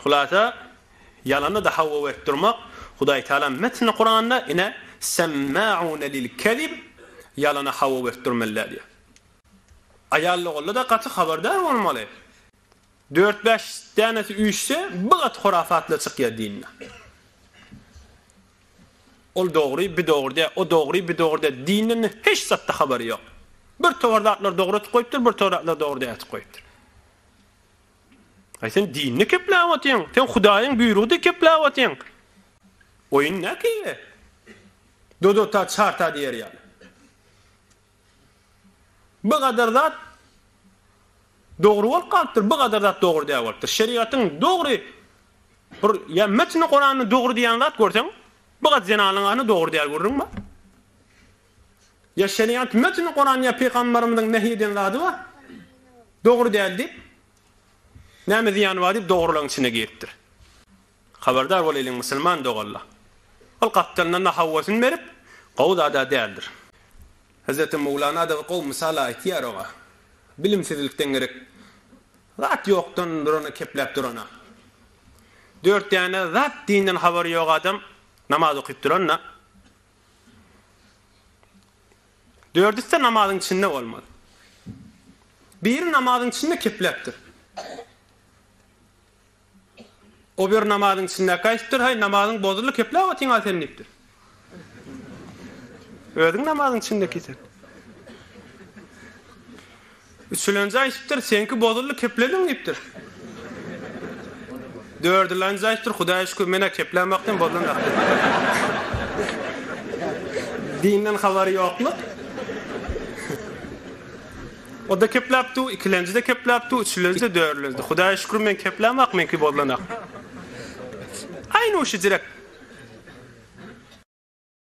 Hulasa, ýalany da hawa berip durmak, Hudaý Tagala metni Kuranda, ine, Semmaune lil kezib, ýalana hawa berip durmeliler diýýär. Aýal-ogulla da gaty habardar bolmaly. Dört-bäş dänesi üýşse, bi gaty hurafat-la çykýar dinde. Ol dogry, bi dogry dä, o dogry, bi dogry dä, dinden hiç zatda habary ýok. Bir towar zatlar dogry atyp goýupdyr, bir towar zatlar dogry däl atyp goýupdyr. Aý sen dinini kepläp otyň, sen Hudaýyň buýrugydy kepläp otyň. Oýun näkile. Dodota çarta diýer ýaly. Bu gadar zat dogry bolup galypdyr, bu gadar zat dogry däl bolupdyr. Şerigatyň dogry bir ýa metni Kuranyň dogry diýen zat görseň, bu gat zenanyň any dogry däl görüň ba. Ýa şeriat mötni Kuran ýa pygambarymyzyň nehy eden zady bar. Dogry däl diýip näme zyýany bar diýip dogrylygyň içine giripdir. Habardar bolaýlyň musulman doganlar. Ol gapdalyndan nahawasyny berip gowy zada däldir. Hazreti Mowlana adaby gowy mysal aýtýar oňa. Bilimsizlikden gerek zat ýokdan durana kepläp durana. Dört däne zat dinden habary ýok adam namaz okyp duranda Dördüsi-de namazyň içinde bolmaly. Biri namazyň içinde kepläpdir. O bir namazyň içinde gaýtdyr, haý namazyň bozuldy, kepläp otyň al sen diýipdir. Özüň namazyň içinde kisen. Üçülenji aýdypdyr, Seňki bozuldy, keplediň diýipdir. Dördülenji aýdypdyr, Hudaýa şükür, men-ä keplän wagty hem bozulan zat diýipdir. Dinden habary ýoklyk. O-da kepläpdi, ikilenji-de kepläpdi, üçülenji-de, dördülenji-de. Hudaýa şükür, men keplän wagt meňki bozulanok. Aýnuşy jirek.